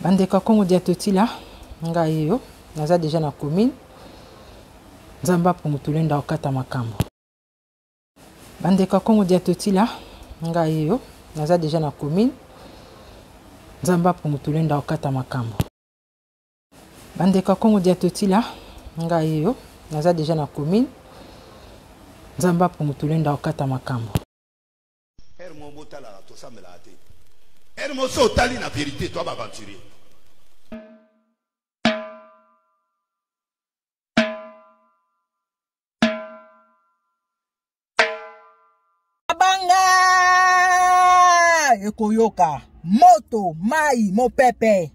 bandeko ya congo dia totila ngai yo naza deja na commune nzambe apungutule ndako kata makambo bandeko ya congo dia totila ngai yo naza deja na commune nzambe apungutule ndako kata makambo bandeko ya congo dia totila ngai yo naza deja na commune nzambe apungutule ndako kata makambo Heure moko botalaka tosambelaka te. Heure moko so otali na verite toi baventurier. Banga ekoyoka moto mai mopepe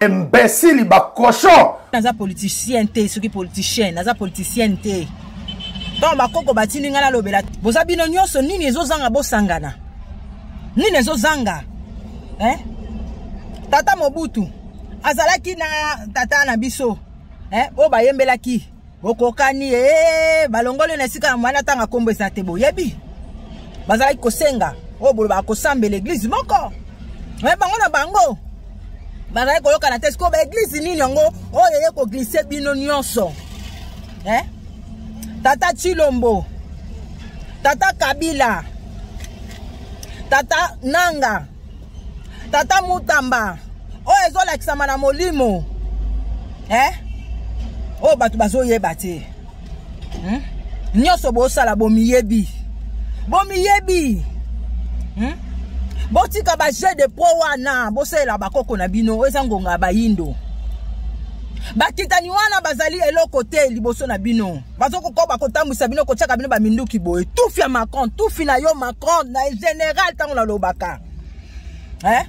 imbecile ba cochon naza politicien te soki politicien naza politicien te ntango bakoko batindi ngai nalobela boza bino nyonso nini ezozanga bosangana nini ezozanga eh? tata mobutu azalaki na tata na biso eh? oyo bayembelaki bokokani ee balongoli na esika ya mwana ntanga nkombo eza te boyebi bazalaki kosenga oyo bolobaka kosambela eglize moko me bango na bango bazalaki koyokana te sikoyo baeglize nini yango oyo eye koglise bino nyonso eh? tata chilombo tata kabila tata nanga tata mutamba oyo ezolakisama na molimo eh? oyo bato bazoyeba te hmm? nyonso bosala bomiyebi bomiyebi hmm? botika bajeu de pro wana bosalela bakoko na bino eza ngonga ya bayindo bakitani wana bazali eloko te liboso na bino bazo kokoba kotambwisa bino kotyaka bino baminduki boye tufi ya macron tufi na yo macron na général ntango nalobaka eh?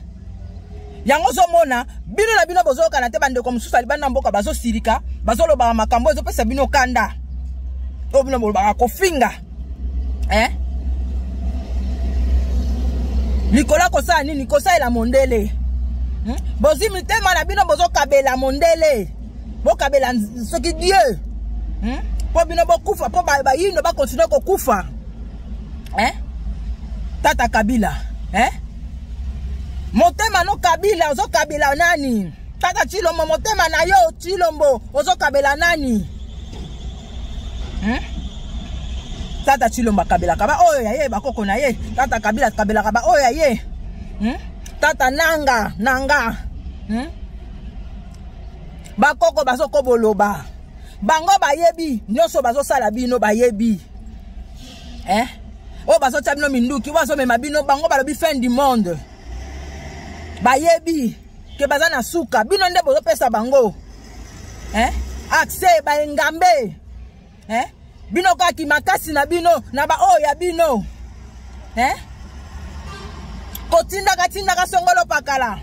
yango ozomona bino na bino bozoyokana te bandeko mosusu ya libanda mboka bazosilika bazolobaka makambo ezopesa bino kanda oyo bino bolobaka kofinga eh? likolo akosala nini kosalela mondele hmm? bozwi mitema na bino bozokabela mondele bokabela soki dieu hmm? mpo bino bokufa mpo bayindo bakontinue kokufa eh? tata kabila eh? motema no kabila ozokabela nani tata chilombo motema na yo chilombo ozokabela nani hmm? tata chilombo akabelaka baoyo ya ye bakoko na ye tata kabila akabelaka baoyo ya ye hmm? tata nanga nanga hmm? bakoko bazoko boloba bango bayebi nyonso bazosala bino bayebi eh? oyo bazotya bino minduki oyo bazomema bino bango balobi fin du monde bayebi ke baza na suka bino nde bozopesa bango eh? accès baengambe eh? bino kaka kimakasi na bino na baoyo ya bino eh? kotindaka tindaka songolo pakala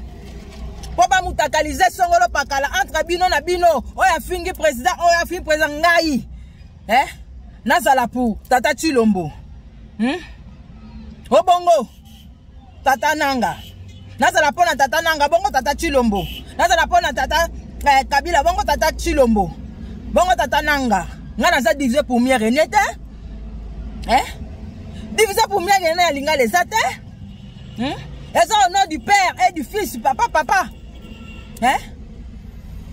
mpo bamutakalize songolo pakala entre bino na bino oyo afingi président oyo afingi président ngai eh? nazala pour tata chilombo hmm? obongo tata nanga nazala mpo na tata nanga bongo tata chilombo nazala mpo na tata eh, kabila bongo tata chilombo bongo tata nanga ngai naza divise pour mieux rene te eh? divise pour mieux rene ya lingala eza te hmm? eza au nom du père et du fils papa papa eh?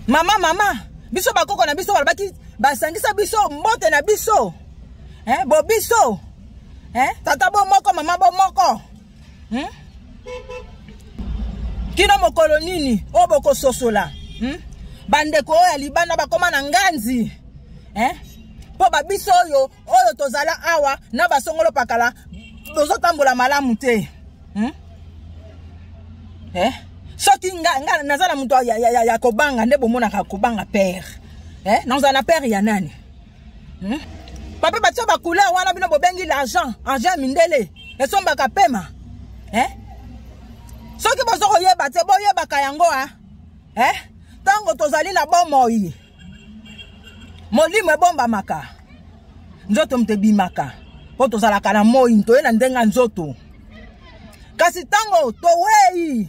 mama mama biso bakoko na biso balobaki basangisa biso mbote na biso eh, bobiso eh, tata bo moko mama bo moko hmm? kino mokolo nini oyo bokososola hmm? bandeko oyo ya libanda bakóma na nganzi eh? mpo babiso oyo oyo tozala awa na basongolo pakala bozotambola malamu te hmm? eh? soki nga, nga naza na moto ya, ya, ya, ya kobanga nde bomonaka kobanga pere eh? nazala na pere ya nani hmm? papa batya bacouleur wana bino bobengi l'argent argent ya mindele esombaka pema eh? soki bozo koyeba te boyebaka yango a eh? ntango tozali na bomoi molimo ebombamaka nzoto moto ebimaka mpo tozalaka na moi toye na ndenge ya nzoto kasi ntango towei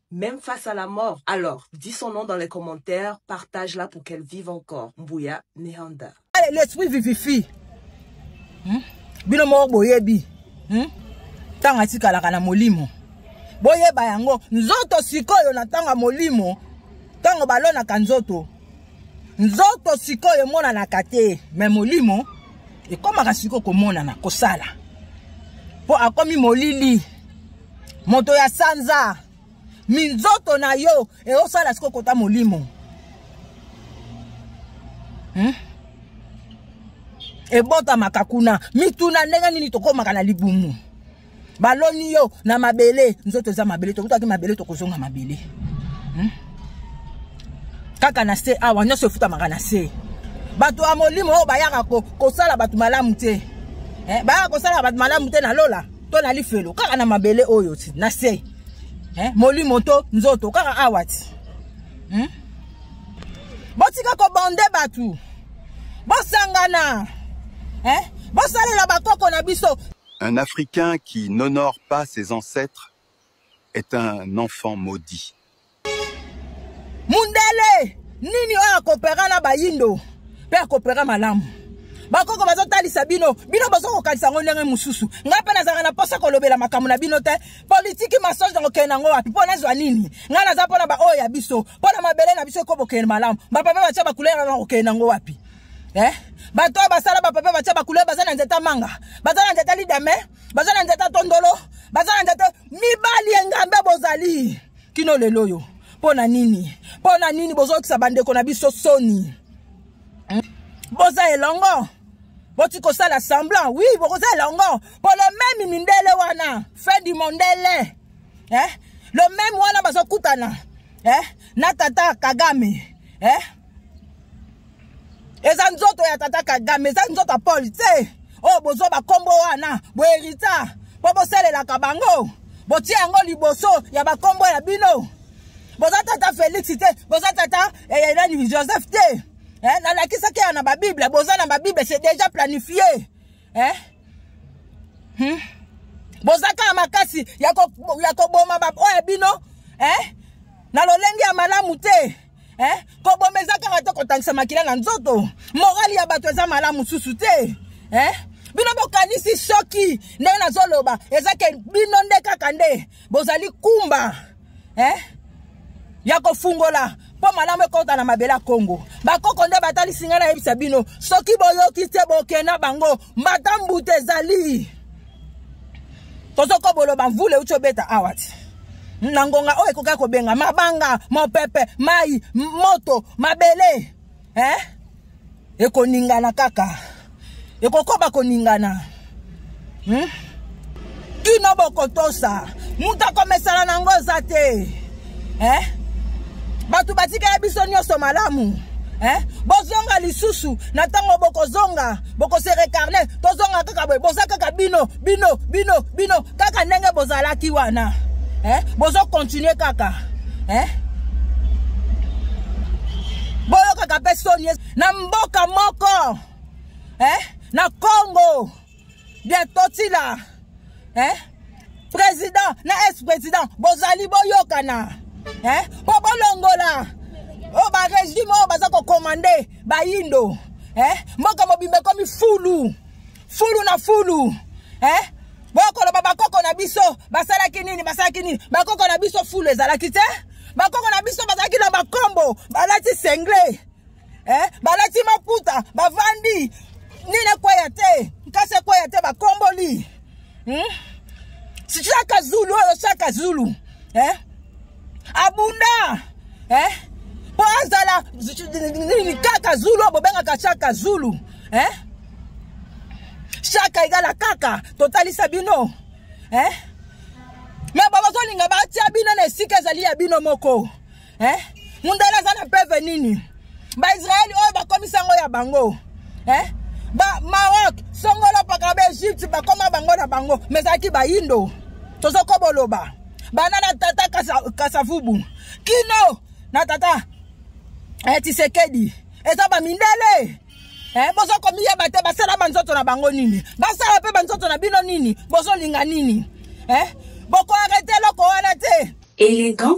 Meme face à la mort. Alors, dis son nom dans les commentaires, partage-la pour qu'elle vive encore. Mbouya Nehanda. Allez, l'esprit vivifi. Hmm? Bino moko boyebi. Hmm? Tanga tikalaka na molimo. Boyeba yango. Nzoto sikoyo na tanga molimo. Tango balonaka nzoto. Nzoto sikoyo emonanaka te. Mais molimo ekomaka sikoyo komonana, kosala. Po akomi molili. moto ya sanza minzoto na yo eosala siko kota molimo hmm? ebotamaka kuna mituna ndenge nini tokomaka na libumu baloni yo na mabele nzoto eza mabele tokutaki mabele tokozonga mabele hmm? kaka na se awa nyonso efutamaka na se bato ya molimo oyo bayaka kosala bato malamu te eh, bayaka kosala bato malamu te na lola to na lifelo kaka na mabele oyo ti na se eh? molimo to nzoto kaka awa ti hmm? botika kobonde bato bosangana eh? bosalela bakoko na biso un africain qui n'honore pas ses ancêtres est un enfant maudit. Mundele nini oyo akopera na bayindo mpe akopera malamu bakoko bazotalisa bino bino bozokokanisa yango ndenge mosusu ngai mpe nazalaka na mposa kolobela makambo na bino te politiki masonge nakokende nango wapi mpo nazwa nini ngai naza mpo na baoyo ya biso mpo na mabele na biso ekobokende malamu bapapa batya bakulera nakokende nango wapi eh? bato oyo basala bapapa batya bakulera baza na nzete manga baza na nzete lidame baza na nzete tondolo baza na nzete mibali engambe bozali kino lelo oyo mpo na nini mpo na nini bozokisa bandeko na biso soni hmm? boza elongo boti kosala semblant wi bokoza elongo mpo le meme mindele wana fin du mondele eh? le meme wana bazokutana eh? na tata kagame eh? eza nzoto ya tata kagame eza nzoto ya pole te oyo oh, bozwa bakombo wana boherita mpo bosalelaka bango botie yango liboso ya bakombo ya bino boza tata felix te boza tata eh, nani joseph te eh, nalakisaki ya na babible boza na babible c'est déjà planifie eh? hmm? boza kaka makasi ya koboma baoyo ya bino eh? na lolenge ya malamu te eh? koboma eza kaka te kotangisa makila na nzoto morali ya bato eza malamu mosusu te eh? bino bokanisi soki ndenge nazoloba eza ke bino nde kaka nde bozali kumba eh? ya kofungola mpo malamu ekota na mabele ya kongo bakoko nde batalisi ngai nayebisa bino soki boyoki te bokenda bango mbatambuta ezali tozokoba oloba mvula euti obeta awa ti na ngonga oyo ekokaki kobenga mabanga mopepe mai moto mabele eh? ekoningana kaka ekokoba koningana hmm? kino bokotosa moto akomesana na yango eza te eh? bato batikaya biso nyonso malamu eh? bozonga lisusu na ntango bokozonga bokose recarne tozonga kaka boye boza kaka bino bino bino bino kaka ndenge bozalaki wana eh? bozokontinue kaka eh? boyokaka mpe soni na mboka moko eh? na congo bien totila eh? président na ex président bozali boyokana eh? mpo bolongola oyo oh, barégime oyo oh, baza kokomande bayindo eh? mboka mobimba ekomi fulu fulu na fulu eh? bokoloba bakoko na biso basalaki nini basalaki nini bakoko na biso fulu ezalaki te bakoko na biso bazalaki na bakombo balati sengle eh, balati maputa bavandi nini ekweya te nkasi ekweya te bakomboli hmm? chaka zulu oyo chaka zulu eh? abunda eh? po azala nini kaka zulu oyo bobengaka chaka zulu eh? chaka egala kaka totalisa bino eh? me babazolinga batia bino na esika ezali ya bino moko eh? mundele aza na peve nini baisraeli oyo bakomisi yango ya bango eh? ba maroc songolo paka baegypte bakoma bango na bango ma ezalaki bayindo tozokoboloba bana na tata kasavubu kino na tata eh, tisekedi eza bamindele Eh, bozo komiyeba te basala banzoto na bango nini basala mpe banzoto na bino nini bozolinga nini eh? bokoarete eloko wana te elegant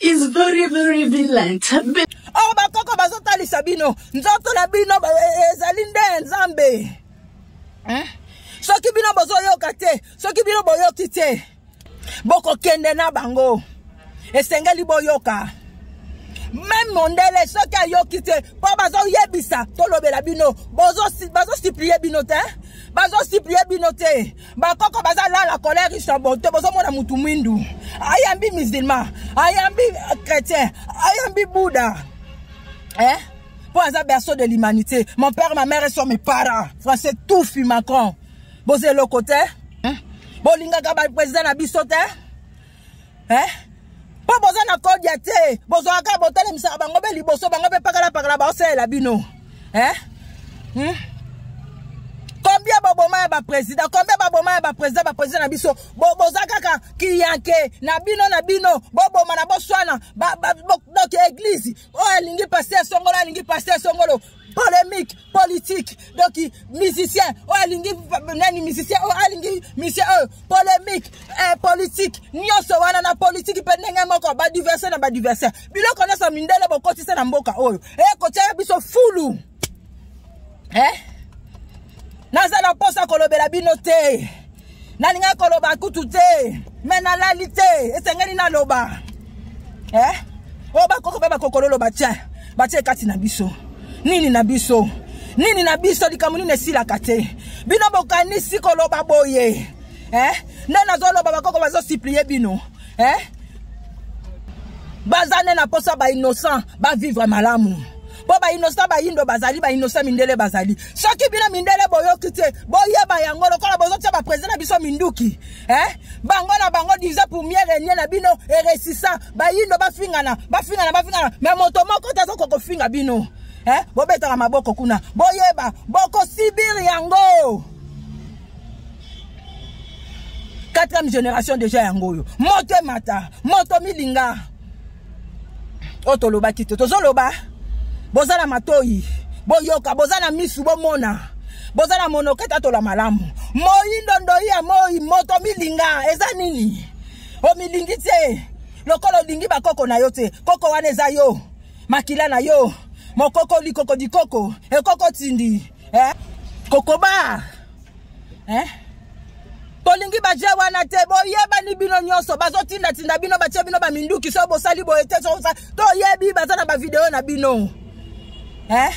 is very very violent oh bakoko bazotalisa bino nzoto na bino eh, ezali nde ya nzambe eh? soki bino bozoyoka te soki bino boyoki te bokokende na bango esengeli boyoka meme mondele soki ayoki te mpo bazoyebisa tolobela bino bazosiplie bino te bazosiplie bino te bakoko baza lala colère istanboto bozomona mutu mwindu ayambi musulman ayambi chrétien ayambi bouddha eh? mpo aza berceau de l'humanité mon père ma mère sont mes parents français tufi macron boza eloko te eh? bolingaka baprésident na biso te eh? mpo boza na kodia te bozwaka botalemisaka bango mpe liboso bango mpe pakalapakala baosalela bino eh? hmm? combien baboma ya baprésident combien baboma ya baprésident baprésident na biso boza kaka kiyanke na bino na bino bobomana boswana donc eglize oyo oh, alingi paster songolo alingi paster songolo polemique politique donc musicien oyo oh, alingi nani musicien oyo oh, alingi musicien oyo oh, polemique eh, politique nyonso wana na politique mpe ndenge moko badiverse na badiverse biloko nyonso mindele bokotisa na mboka oyo ekotia eh, biso fulu eh? naza na mposa kolobela bino te nalingaki koloba kutu te me nalali te esengeli naloba eh? oyo oh, bakoko mpe bakokololo batye batye kati na biso nini na biso nini na biso likambo nini esilaka te bino bokanisi koloba boye eh? nde nazoloba bakoko bazosiplie bino eh? baza nde na mposa bainnocent bavivre malamu mpo bainosa bayindo bazali bainosa mindele bazali soki bino mindele boyoki te boyeba yango lokola bozotya baprezida na biso minduki eh? bango na bango division pour mieux renie na bino eresisa bayindo bafingana bafingana bafingana me moto moko te azokoka kofinga bino eh? bobetaka maboko kuna boyeba bokosibir yango quatrième génération déjà yango oyo moto emata moto milinga oyo tolobaki te tozoloba boza na matoi boyoka boza na misu bomona boza na monoke tatola malamu moi ndondoi ya moi moto milinga eza nini omilingi te lokola olingi bakoko na yo te koko wana eza yo makila na yo mokoko likoko dikoko ekoko tindi eh? kokoba eh? tolingi baje wana te boyebani bino nyonso bazotindatinda bino batye bino baminduki soki bosali boye te toyebi baza na bavideo na bino eh?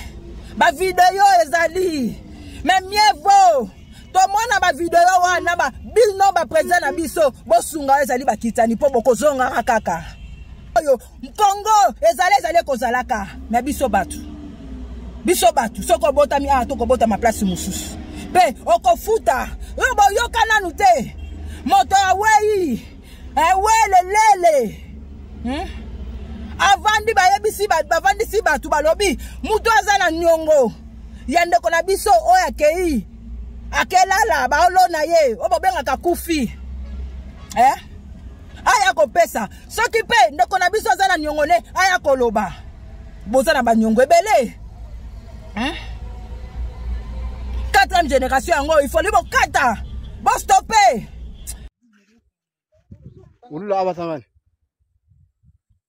bavideo ezali me mieux vaut tomona bavideo wana ba, bino baprezida na biso bosunga oyo ezali bakitani mpo bokozongaka kaka oyo Mpongo ezala ezali ekozalaka na biso bato. Biso bato soki obotami awa tokobotama place mosusu. Mpe okofuta oyo boyoka nanu te moto awei ewelelele hmm? avandi bayebisi bavandisi bato balobi moto aza na niongo ya ndeko na biso oyo akei akelala baolona ye oyo bobengaka kufi eh? aya kopesa soki mpe ndeko na biso aza na niongo ne aya koloba boza na baniongo ebele hein? quatrième génération yango ifoli bokata bostope ulula abasangani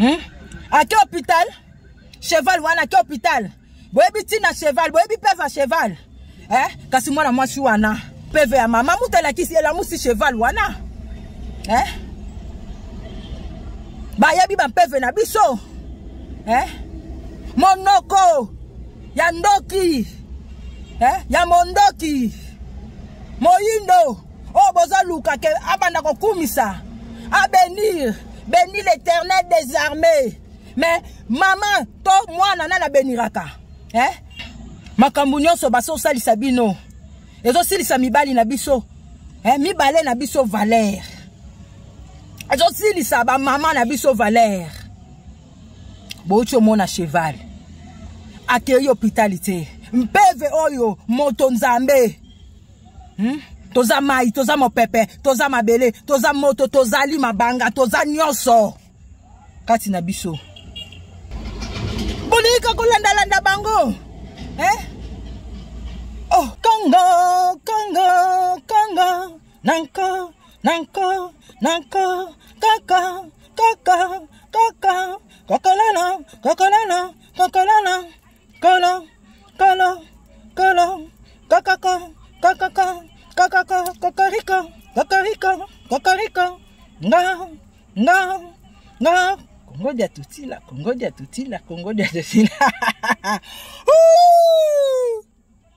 hmm? ake hôpital cheval wana ake hôpital boyebi ntina cheval boyebi peve ya cheval eh? kasi mwana mwasi wana peve ya mama mutu alakisi elamusi cheval wana eh? bayebi bampeve na biso eh? monoko ya ndoki eh? ya mondoki moyindo oyo bozoluka ke abanda kokumisa abenir beni l'éternel des armées mais mama to mwana nani abeniraka eh? makambo nyonso basi osalisa bino ezosilisa mibali na biso eh? mibale na biso valere ezosilisa bamama na biso valere bouti omona cheval akei hopitali te mpeve oyo moto nzambe hmm? toza mai toza mopepe toza mabele toza moto tozali mabanga toza nyonso kati na biso bolingi kolandalanda bango eh? oh. congo congo congo nanko nanko nanko kaka kaka kaka kokolana kokolana kokolana kolo kolo kolo kokoko kokoko kokoko kokoriko kokoriko kokoriko nga nga nga kongo dia tutila kongo dia tutila kongo dia tutila